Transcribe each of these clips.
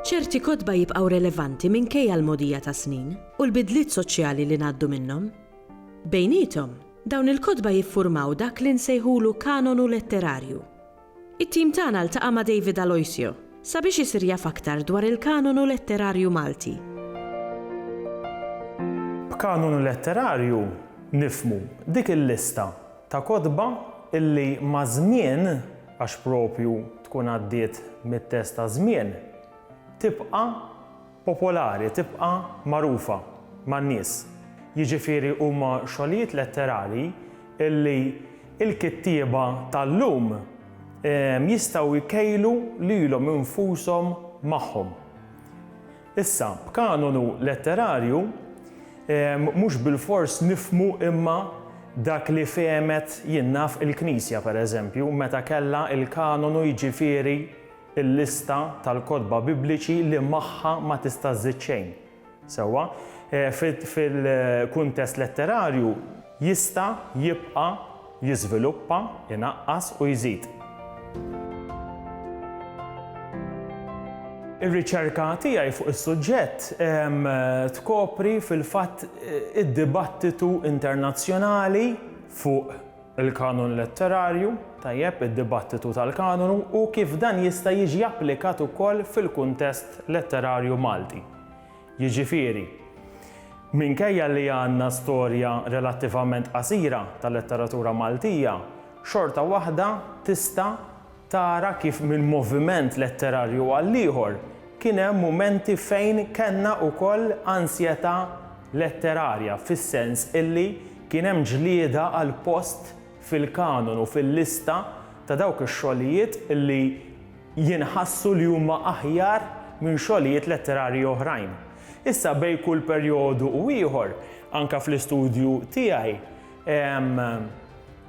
Ċerti kotba jibqgħu relevanti minkejja l-mogħdija tas-snin u l-bidliet soċjali li ngħaddu minnhom. Bejniethom, dawn il-kotba jiffurmaw dak li nsejħulu kanonu letterarju. It-tim tagħna ltaqa' ma' David Aloisio sabiex isir jaf aktar dwar il-kanonu letterarju Malti. B'kanonu letterarju nifhmu dik il-lista ta' kotba illi maż-żmien, għax proprju tkun għaddiet mit-test taż-żmien, tibqa' popolari tibqa' magħrufa man-nies, jiġifieri huma xogħlijiet letterarji li l-kittieba tal-lum jistgħu jkejlu lilhom infushom magħhom. Issa, b'kanonu letterarju mhux bilfors nifhmu imma dak li fehmet jien naf il-Knisja, pereżempju, meta kellha l-kanonu jiġifieri il-lista tal-kotba Bibliċi li magħha ma tista' żżid xejn. Sewwa, fil-kuntest letterarju, jista' jibqa' jiżviluppa, inaqqas u jżid. Ir-riċerka tiegħi fuq is-suġġett tkopri fil-fatt id-dibattitu internazzjonali fuq Il-kanun letterarju, tajjeb, id-dibattitu tal-kanonu u kif dan jista' jiġi applikat ukoll fil-kuntest letterarju Malti. Jiġifieri, minkejja li għandna storja relattivament qasira tal-letteratura Maltija, xorta waħda tista' Tara kif minn moviment letterarju għall-ieħor kien hemm mumenti fejn kellna wkoll ansjetà letterarja fis-sens illi kien hemm ġlieda għal post fil-kanonu, fil-lista ta' dawk ix-xogħlijiet illi jinħassu li huma aħjar minn xogħlijiet letterarji oħrajn. Issa bejn kull perjodu u ieħor, anke fl-istudju tiegħi,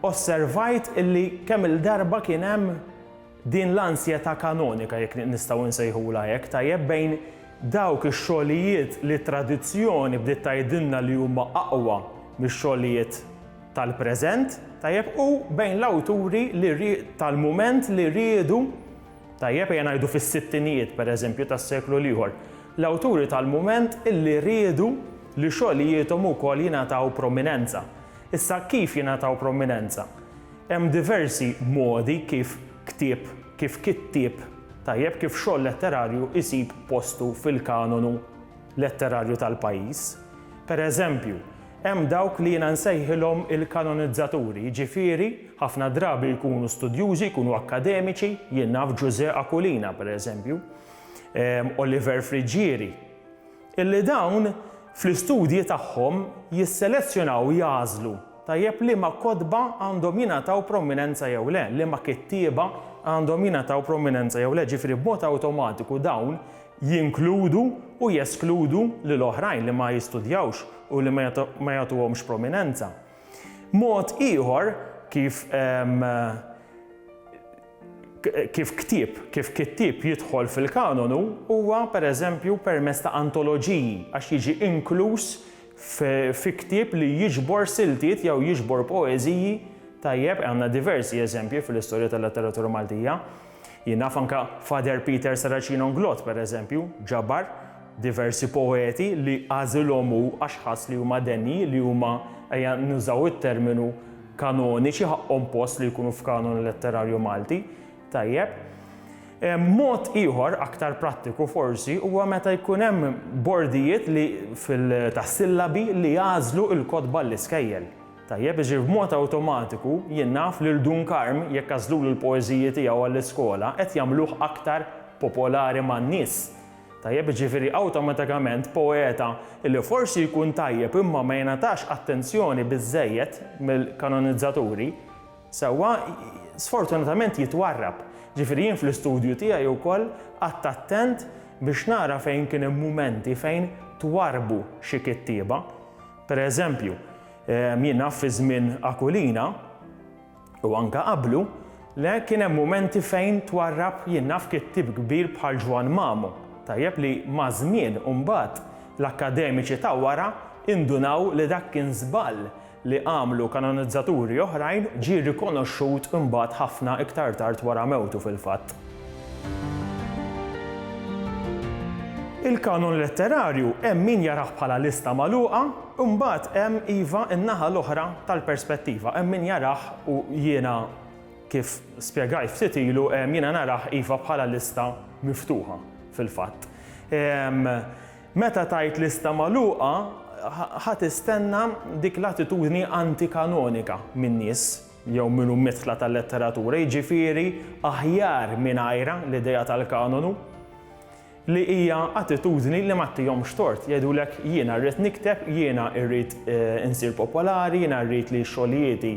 Osservajt illi kemm-il darba kien hemm din l-ansjetà kanonika, jekk nistgħu nsejħulha hekk, tajjeb, bejn dawk ix-xogħlijiet li t-tradizzjoni bdiet tgħidilna li huma aqwa mix-xogħlijiet tal-preżent, tajjeb, u bejn l-awturi li tal-mument li riedu, tajjeb, ejja ngħidu fis-sittinijiet, pereżempju, tas-seklu l-ieħor, l-awturi tal-mument illi riedu, Li xogħlijiethom ukoll jingħataw prominenza. Issa kif jingħataw prominenza? Hemm diversi modi kif ktieb, kif kittieb tajjeb, kif xogħol letterarju jsib postu fil-kanonu letterarju tal-pajjiż. Per eżempju, hemm dawk li jiena nsejħilhom il-kanonizzaturi, jiġifieri ħafna drabi jkunu studjużi, jkunu akkademiċi, jien naf Ġużè Aquilina, per eżempju, Oliver Friggieri, Illi dawn, fl-istudji tagħhom, jisselezzjonaw, jagħżlu, tajjeb liema kotba għandhom jingħataw prominenza jew le, liema kittieba għandhom jingħataw prominenza jew le, ġifieri b'mod awtomatiku dawn jinkludu u jeskludu lil oħrajn li ma jistudjawx u li ma jagħtuhomx prominenza. Mod ieħor kif Kif ktieb, kif kittieb jidħol fil-kanonu huwa, per eżempju, permezz ta' antoloġiji, għax jiġi inkluż fi ktieb li jiġbor siltiet jew jiġbor poeżiji, tajjeb, għandna diversi eżempji fil-istorja tal-letteratura Maltija. Jien naf anke Father Peter Saracino N'Glott, per eżempju, ġabar diversi poeti li għażilhom hu għax ħass li huma denji, li huma, ejja nużaw it-terminu, kanoniċi ħaqqhom post li jkunu f'kanon letterarju Malti, tajjeb. Mod ieħor, aktar prattiku forsi, huwa meta jkun hemm bordijiet li fil tas-sillabi li jagħżlu l-kotba għall-iskejjel. Tajjeb, jiġifieri b'mod awtomatiku jien naf li 'l Dun Karm jekk għażlulu l-poeżiji tiegħu għall-iskola qed jagħmluh aktar popolari man-nies. Tajjeb jiġifieri awtomatikament poeta li forsi jkun tajjeb imma ma jingħatax attenzjoni biżżejjed mill-kanonizzaturi, sewwa, sfortunatament jitwarrab. Jiġifieri jien fl-istudju tiegħi wkoll qgħadt attent biex nara fejn kien hemm mumenti fejn twarrbu xi kittieba. Per eżempju, jien naf fi żmien Aquilina, U anke qablu, le, kien hemm mumenti fejn twarrab jien naf kittieb kbir bħal Ġwann Mamu. Tajjeb li maż-żmien u mbagħad l-akkademiċi ta' wara indunaw li dak kien żball li għamlu kanonizzaturi oħrajn ġie rikonoxxut mbagħad ħafna iktar tard wara mewtu fil-fatt. Il-kanon letterarju hemm min jarah bħala lista magħluqa Imbagħad hemm, iva, in-naħa l-oħra tal-perspettiva. Hemm min jarah, u jiena kif spjegajt ftit ilu, jiena narah, iva, bħala lista miftuħa, fil-fatt. Meta tgħid lista magħluqa, ħa tistenna dik l-attitudni anti-kanonika min-nies, jew minn ummietla tal-letteratura, jiġifieri aħjar mingħajrha, l-idea tal-kanonu. li hija attitudni li ma ttihomx tort, jgħidulek jiena rrid nikteb, jiena rrid insir popolari, jiena rrid li xogħlijieti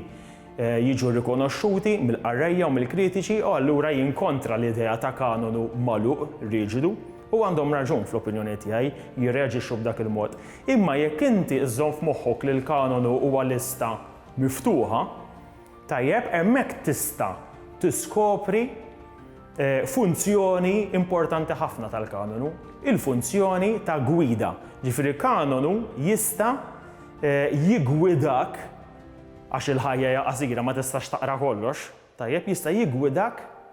jiġu rikonoxxuti mill-qarrejja u mill-kritiċi u allura jien kontra l-idea ta' kanonu magħluq, riġidu. U għandhom raġun, fl-opinjoni tiegħi, jirreaġixxu b'dak il-mod. Imma jekk inti żżomm f'moħħok li l-kanonu huwa lista miftuħa, Tajjeb, hemmhekk tista' tiskopri funzjoni importanti ħafna tal-kanonu, il-funzjoni ta' gwida. Ġifieri kanonu jista' jiggwidak, għax il-ħajja hija qasira ma tistax taqra kollox, tajjeb, jista' jiggwidak,